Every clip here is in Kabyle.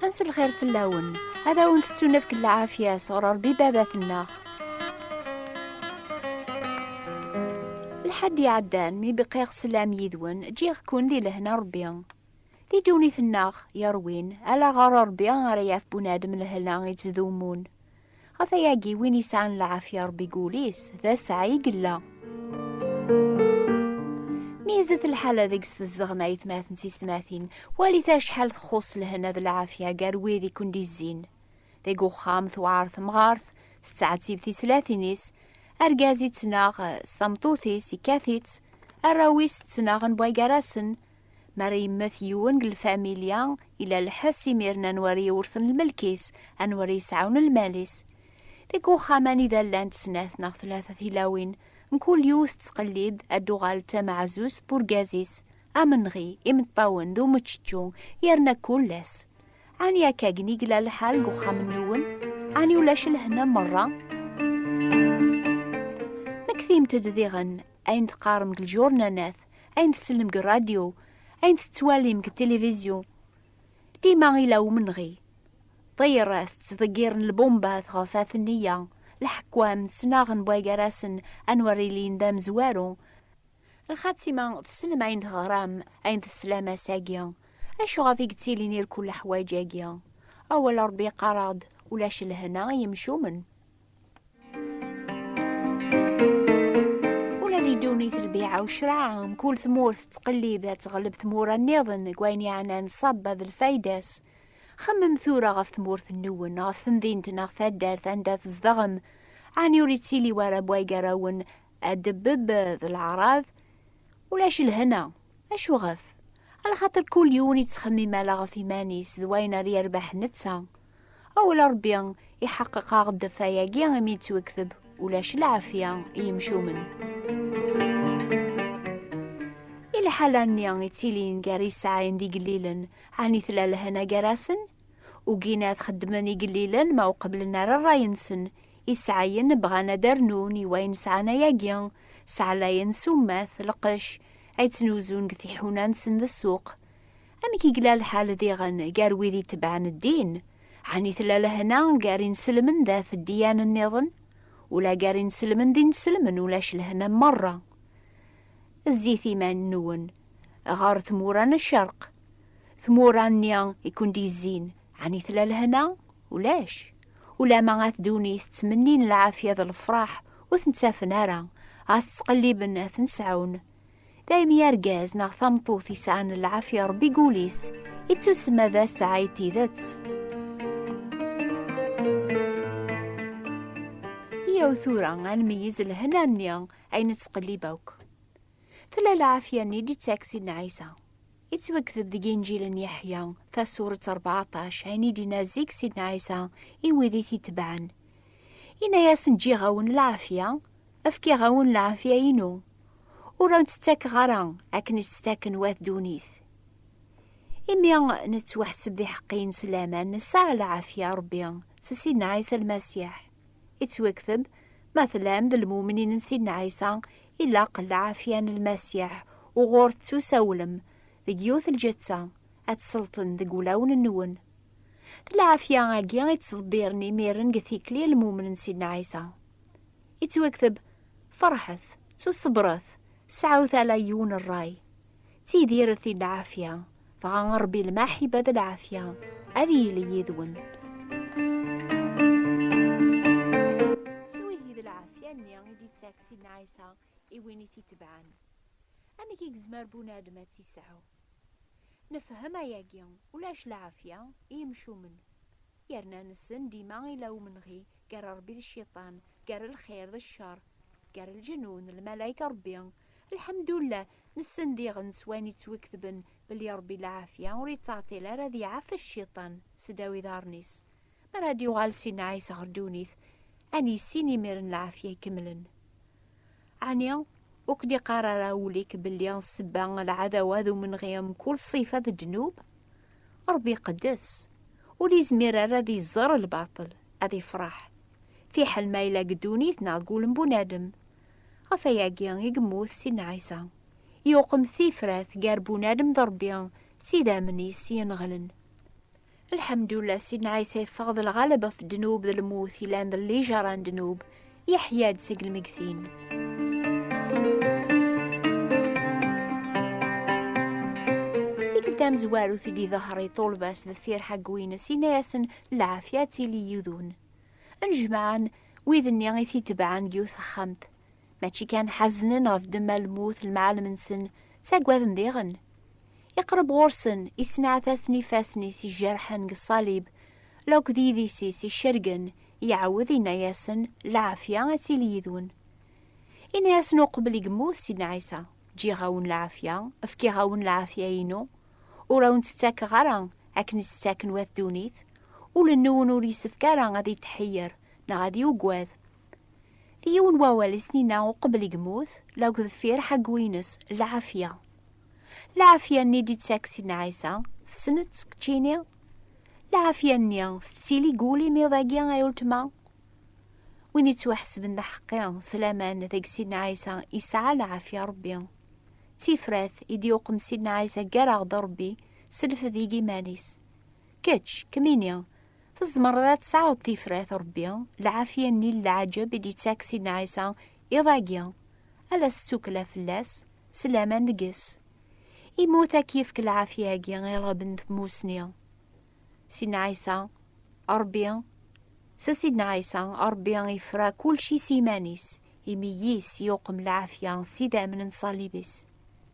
Ansi lxir fell-awen, ad awen-tettunefk lɛafya sɣur Ṛebbi baba-tenneɣ. Lḥedd iɛeddan mi bqiɣ sslam yid-wen, ǧǧiɣ-ken di lehna Ṛebbi. Di ddunit-nneɣ yerwin, ala ɣer Ṛebbi ara yaf bunadem lehna ittdumun. Ɣef ayagi win yesɛan lɛafya Ṛebbi deg wul-is, d asɛa i yella. Meyyzet lḥala deg-s tezdeɣem ayetmaten s yetmatin, walit acḥal txuṣṣ lehna d lɛafya gar wid i ken-d-izzin. Deg uxxam tewɛer temɣart, tettɛettib tislatin-is, argaz ittnaɣ s tameṭṭut-is, ikkat-itt, arraw-is ttnaɣen bway gar-asen, Mi ara yemmet yiwen deg lfamilya, ila lḥess imiren anwa ara yewrten lmelk-is, anwa ara yesɛawen lmal-is. Deg uxxam anida llant snat neɣ tlata tilawin, mkul yiwet tettqellib ad d-tuɣal d tameɛzuzt n urgaz-is, amenɣi, imeṭṭawen d umeččečču, yerna kul ass. Ɛni akka gen i yella lḥal deg uxxam-nniwen? Ɛni ulac lehna merra? Mmektimt-d diɣen ayen teqqarem deg lǧurnanat. ayen tsellem deg rradyu, ayen tettwalim deg tilivizyu. Dima ila umenɣi. Ṭṭir-a tettḍeggiren lbumbat ɣef At Nniya, leḥkwam ttnaɣen bwagarasen anwa ara ilin d amezwaru. Lxatima tsellem ayen teɣram, ayen teslam ass-agi. Acu ɣef i yettilin irkul leḥwaǧ-agi? Awal Ṛebbi yeqqar-aɣ-d, Ulac lehna i yimcumen. ddunit lbiɛa u ccraɛ mkul tmurt tettqellib ad teɣleb tmura nniḍen deg wayen yeɛnan ṣṣaba d lfayda-s. Xemmem tura ɣef tmurt-nniwen, ɣef temdint neɣ taddart anda tzedɣem, ɛni ur yettili wara bway gar-awen adebbeb d leɛraḍ? Ulac lhena. Acu ɣef? Ala xaṭer kul yiwen yettxemmim ala ɣef iman-is d wayen ara yerbeḥ netta. Awel a Ṛebbi iḥeqqeq-aɣ-d ɣef wayagi imi yettwekteb ulac lɛafya i yimcumen. I lḥala-nni yettilin gar yesɛayen d igellilen, ɛni tella lehna gar-asen? Ugin ad xeddmen igellilen ma ur qebblen ara ṛṛay-nsen, isɛayen bɣan ad d-rnun i wayen sɛan ayagi, sɛlayen summat, lqecc, ay ttnuzun deg tiḥuna-nsen d ssuq. Amek i yella lḥal diɣen gar wid itebɛen ddin? Ɛni tella lehna gar inselmen dat ddiyan-nniḍen? Ula gar inselmen d inselmen ulac lehna merra. Zzit iman-nwen ɣer tmura n ccerq. Tmura-nni i kund-yezzin, ɛni tella lehna? Ulac. Ulama at ddunit ttmennin lɛafya d lefraḥ ur ten-ttafen ara, ɣas ttqelliben ad ten-sɛun. Daymi argaz neɣ tameṭṭut yesɛan lɛafya ṛebbi deg wul-is, ittusemma d asɛa i tidet. Yyaw tura ad nmeyyez lehna-nni ay nettqellib akk. Tella lɛafya-nni d-yettak Sidna Ɛisa. Yettwakteb deg Inǧil n Yeḥya, tasuret ṛebɛaṭac, ayen i d-yenna zik Sidna Ɛisa i wid i t-itebɛen. Yenna-yasen, Ǧǧiɣ-awen lɛafya, Efkiɣ-awen lɛafya-inu, ur awen-tt-ttakeɣ ara akken i tt-ttaken wat ddunit. Imi nettwaḥseb d iḥeqqiyen s laman nesɛa lɛafya Rebbi s Sidna Ɛisa Lmasiḥ. Ittwekteb, Ma tlam d lmumnin n Sidna Ɛisa, ilaq lɛafya n Lmasiḥ uɣur tettusawlem deg yiwet lǧetta, ad tt-selṭen deg wulawen-nwen. D lɛafya-agi i ttḍebbiren imiren deg tikli lmumnen Sidna Ɛisa. Yettwakteb, Ferḥet, ttuṣebret, sɛut ala yiwen rray. Ttidiret i lɛafya, dɣa a Ṛebbi lmaḥiba d lɛafya ad yili yid-wen. Twihi d lɛafya-nni i d-yettak Sidna Ɛisa i win i t-itebɛen. Amek i yezmer bunadem ad tt-yesɛu? Nefhem ayagi, ulac lɛafya i yimcumen, yerna nessen dima ila umenɣi gar Rebbi d cciṭan, gar lxir d ccer, gar lǧenun, lmalayka, Rebbi. Lḥemdullah, nessen diɣen s wayen yettwiketben belli Rebbi lɛafya ur yettɛeṭṭil ara ad iɛafes cciṭan seddaw iḍarren-is, Mi ara d-yuɣal si nnɛis ɣer ddunit, ad nissin imir n lɛafya ikemlen. Ɛni ur k-d-iqqar ara wul-ik belli ssebba n lɛadawa d umenɣi mkul ṣṣifa d ddnub? Ṛebbi iqeddes, ur izmir ara ad iẓer lbaṭel, ad ifṛeḥ, fiḥel ma yella deg ddunit neɣ deg wul n bunadem. Ɣef wayagi i yemmut si nnɛis-a, yuqem tifrat gar bunadem d Ṛebbi s idammen-is yenɣelen. Lḥemdullah, Sidna Ɛisa yeffeɣ d lɣaleb ɣef ddnub d lmut yellan d lijaṛa n ddnub, yeḥya-d seg lmegtin. Tikkelt tamezwarut i d-iḍehher i ṭṭulba s deffir ḥaggu-ines, yenna-yasen lɛafya ad tili yid-wen. Nnejmaɛen wid-nni i t-itebɛen deg yiwet texxamt. Mačči kan ḥaznen ɣef ddemma lmut lemɛalem-nsen, ttaggaden diɣen. Iqreb ɣur-sen, issenɛat-asen ifassen-is ijerḥen deg ṣṣalib, la akked yidis-is icergen, iɛawed inna-yasen, Lɛafya ad tili yid-wen. Inna-yasen uqbel i yemmut Sidna Ɛisa, Ǧǧiɣ-awen lɛafya, fkiɣ-awen lɛafya-inu, ur awen-tt-ttakeɣ ara akken i tt-ttaken wat ddunit, ul-nwen ur yessefk ara ad itḥeyyer neɣ ad yuggad, Yiwen wawal i s-nina uqbel i yemmut, la deg deffir ḥaggu-ines, lɛafya. Lɛafya-nni d-yettak Sidna Ɛisa, tessneḍ-tt keččini? Lɛafya-nni tettili deg wul-im iḍ-agi ay uletma? Win yettwaḥesben d aḥeqqi s laman deg Sidna Ɛisa yesɛa lɛafya Rebbi. D tifrat i d-yuqem Sidna Ɛisa gar-aɣ d Rebbi s lfed i yiman-is. Kečč, kemmini, tzemreḍ ad tesɛuḍ tifrat Ṛebbi, lɛafya-nni n leɛǧeb i d-ittak Sidna Ɛisa iḍ-agi, ala s tsukkla fell-as, s laman deg-s. Immut ad k-yefk lɛafya-agi i ṛṛɣeb n tmusni. Sidna Ɛisa, Ṛebbi, s Sidna Ɛisa, Ṛebbi yefra kulci s yiman-is, imi yis yuqem lɛafya s idammen n ṣṣalib-is.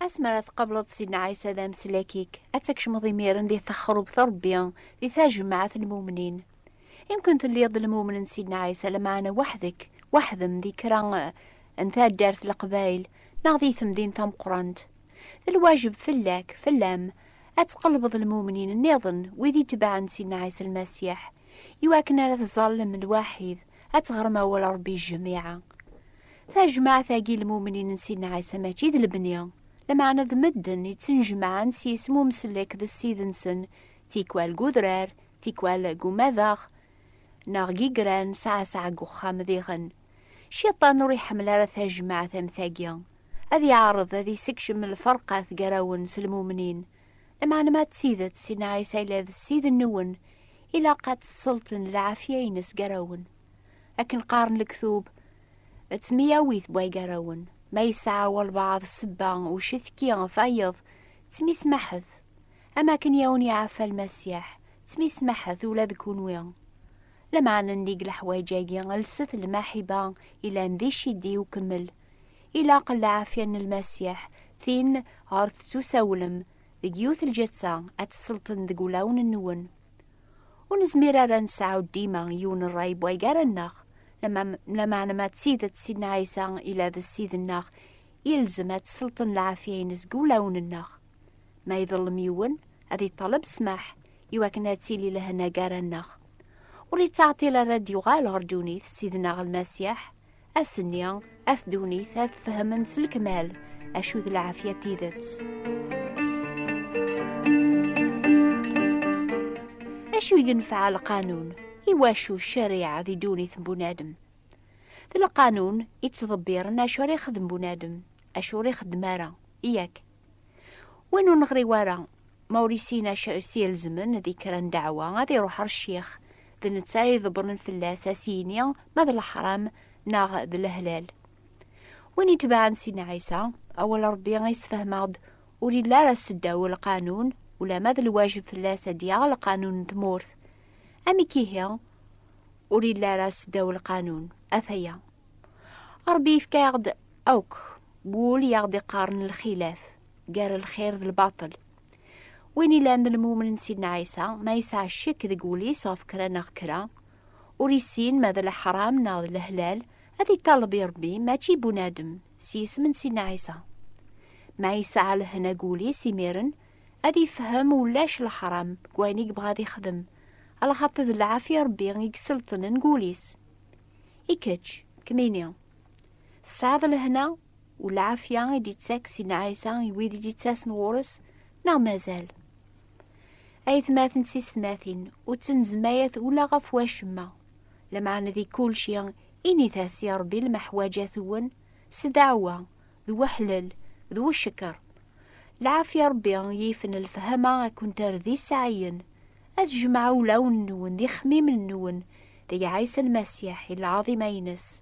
Asmi ara tqableḍ Sidna Ɛisa d ameslak-ik, ad takcmeḍ imiren di texrubt Rebbi, di tajmaɛt n lmumnin. Imken telliḍ d lmumen n Sidna Ɛisa, lamaɛna waḥdek, waḥdem di kra n taddart leqbayl, neɣ di temdint tameqqrant. D lwajeb fell-ak, fell-am, ad tqelbeḍ lmumnin nniḍen, wid itebɛen Sidna Ɛisa Lmasiḥ, iwakken ara teẓẓallem lwaḥid ad teɣrem awal Ṛebbi jjemiɛa. Tajmaɛt-agi lmumnin n Sidna Ɛisa mačči d lebni, lameɛna d medden i ttnejmaɛen s yisem umsellek d ssid-nsen, tikwal deg udrar, tikwal deg umadaɣ, neɣ deg igran sɛasɛa deg uxxam diɣen. Ciṭan ur iḥemmel ara tajmaɛt am tagi. Ad iɛreḍ ad isekcem lferqat gar-awen s lmumnin, Lameɛna ma d tidet Sidna Ɛisa yella d Ssid-nwen, ilaq ad tesselṭen lɛafya-ines gar-awen. Akken qqaren lektub, d temyawit n wagarawen. Ma yesɛa walbaɛḍ ssebba, ucetki, tayeḍ, ttmismaḥet. Am akken i awen-iɛaffa Lmasiḥ, ttmismaḥet ula d kunwi. Lameɛna nnig leḥwayeǧ-agi, lset lmaḥiba yellan di ccidi ukemmel. Ilaq lɛafya n Lmasiḥ, tin ɣer tettusawlem deg yiwet lǧetta, ad tesselṭen deg wulawen-nwen. Ur nezmir ara ad nesɛu dima yiwen rray n waygar-nneɣ, lameɛna ma d tidet Sidna Ɛisa yella d Ssid-nneɣ, yelzem ad tesselṭen lɛafya-ines deg wulawen-nneɣ. Ma iḍellem yiwen, ad iṭaleb ssmaḥ, iwakken ad tili lehna gar-aneɣ. Ur yettɛeṭṭil ara ad d-yuɣal ɣer ddunit Ssid-nneɣ Lmasiḥ, Ass-nni, at ddunit ad fehmen s lekmal acu d lɛafya n tidet. Acu i yenfeɛ lqanun? Iwacu ccariɛa di ddunit n bunadem? D lqanun i ttḍebbiren acu ara ixdem bunadem, acu ur ixeddem ara, yak. Win ur neɣri wara, ma ur yessin acu i s-yelzmen di kra n ddeɛwa, ad iruḥ ɣer ccix, d netta i iḍebbren fell-as ad s-yini ma d leḥram neɣ d lehlal. Win itebɛen Sidna Ɛisa, awal n Ṛebbi i yessefhem-aɣ-d, ur yelli ara seddaw lqanun, ulamma d lwajeb fell-as ad yaɣ lqanun n tmurt. Amek ihi ur yelli ara seddaw lqanun? Ata-ya. Ṛebbi yefka-yaɣ-d Akk wul i aɣ-d-iqqaren lxilaf gar lxir d lbaṭel. Win ilan d lmumen n Sidna Ɛisa, ma yesɛa ccek deg wul-is ɣef kra neɣ kra, ur issin ma d leḥram neɣ d lehlal, ad iṭaleb i Rebbi, mačči i bunadem, s yisem n Sidna Ɛisa. Ma yesɛa lehna deg wul-is imiren, ad ifhem ulac leḥram deg wayen i yebɣa ad ixdem, alaxaṭi d lɛafya Rebbi i iselṭnen deg wul-is. I kečč, kemmini, Tesɛiḍ lehna u lɛafya i d-yettak Sidna Ɛisa i wid i d-yettasen ɣur-s neɣ mazal? Aytmaten d tistmatin, ur ttenzmayat ula ɣef wacemma. Lameɛna di kulci, init-as i Ṛebbi lmeḥwaǧat-wen s ddeɛwa, d weḥlel, d weckeṛ. Lɛafya Ṛebbi yifen lefhama ad kent-terr d iseɛɛiyen, ad tjemmeɛ ulawen-nwen d ixemmimen-nwen deg Ɛisa Lmasiḥ i lɛaḍima-ines.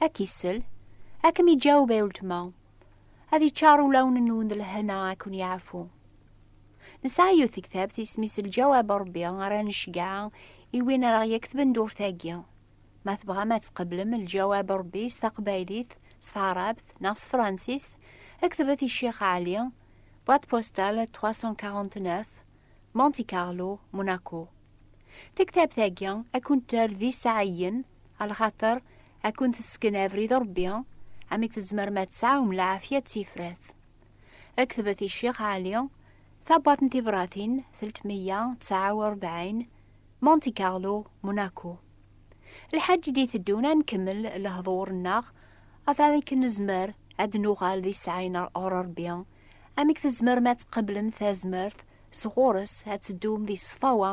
Ad k-isel, ad kem-iǧaweb ay uletma, ad iččar ulawen-nwen d lehna ad ken-yeɛfu. Nesɛa yiwet tektabt isem-is Lǧawab Ṛebbi ara necgeɛ i win ara ɣ-yektben durt-agi. Ma tebɣam ad tqeblem Lǧawab Ṛebbi s taqbaylit, s taɛrabt neɣ s tefransist, ktbet i Ccix Ɛli, boîte postale 349, Monte Carlo, Monaco. Tektabt-agi ad kent-terr d iseɛɛiyen, A lxaṭer, ad kun-tesken abrid Ṛebbi, amek tzemrem ad tesɛum lɛafya d tifrat. Ad ketbet i Ccix Ɛli, Tabwaḍt n Tibratin, teltmeyya tesɛa u rebɛin, Monte Carlo, Monaco. Lḥaǧ i d-iteddun ad nkemmel lehḍur-nneɣ ɣef amek nezmer ad d-nuɣal d iseɛɛayen ɣur Ṛebbi, amek tzemrem ad tqeblem tazmert sɣur-s ad teddum di ṣṣfawa